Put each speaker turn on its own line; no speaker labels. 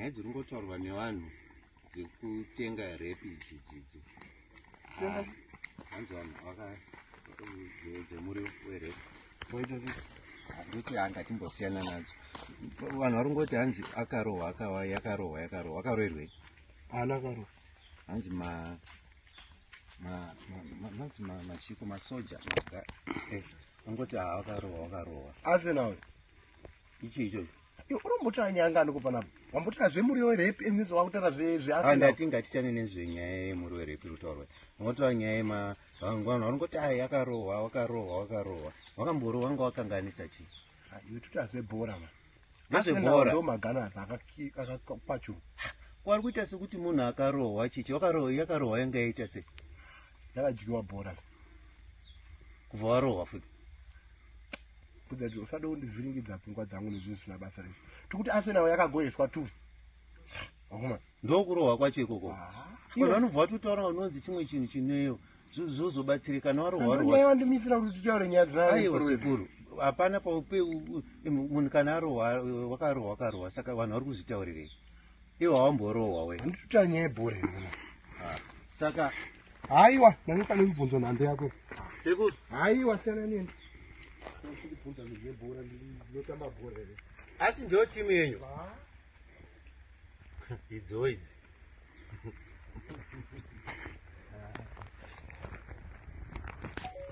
nyaya dziri kungotaurwa nevanhu dzekutenga rep idzi dzidzi ah, hanzi vanhu vakadzemuriwo werep ndotianga timbosiyana nadzo vanhu vari kungoti hanzi akarohwa akawa yakarohwa yakarohwa akaroerwei ana akarohwa hanzi ma manzi machiko masoja eh, angoti haakarohwa akarohwa asenao ichi ichocho Iwe unombotaura nyaya ngani ko panapa? Wambotaura zvemuriwo werepi and izvo wakutaura zve Ah, zveasina. ndati ngatisiyane nezvenyaya yemuri werepi rutaurwa unotaura nyaya yema vanhu vanhu vanongoti ayi akarohwa wakarohwa wakarohwa wakamborohwa wanga wakanganisa chi Ah, Iwe totaura zvebhora ma. Ngezvebhora. Ndo maGunners akaki- akakwachuka. wari kuita sekuti munhu akarohwa chichi wakarohwa yakarohwa yanga yaita sei Yakadyiwa bhora. kubva warohwa futi kudzati usada kundivhiringidza pfungwa dzangu nezvinhu zvisina basa rese tikuti asenawo yakagoeswa tu akoma ndokurohwa kwacho ikoko vanhu vanobva vatotaura vanonzi chimwe chinhu chineyo zvozobatsirika nawarohwarohwandimisira kuti titaure nyaya dzaiwa sekuru hapana paupe munhu kana arohwa wakarohwa wakarohwa saka vanhu vari kuzvitaurirei iwe haumborohwa we handitoita nyaya yebhora izona ah, saka haiwa nani pane kubvunzo nhando yako seku haiwa siyana neni ndibvunza zvinhu zvebhora ndinotamba bhora here asi ndo timu yenyu ah. idzo idzi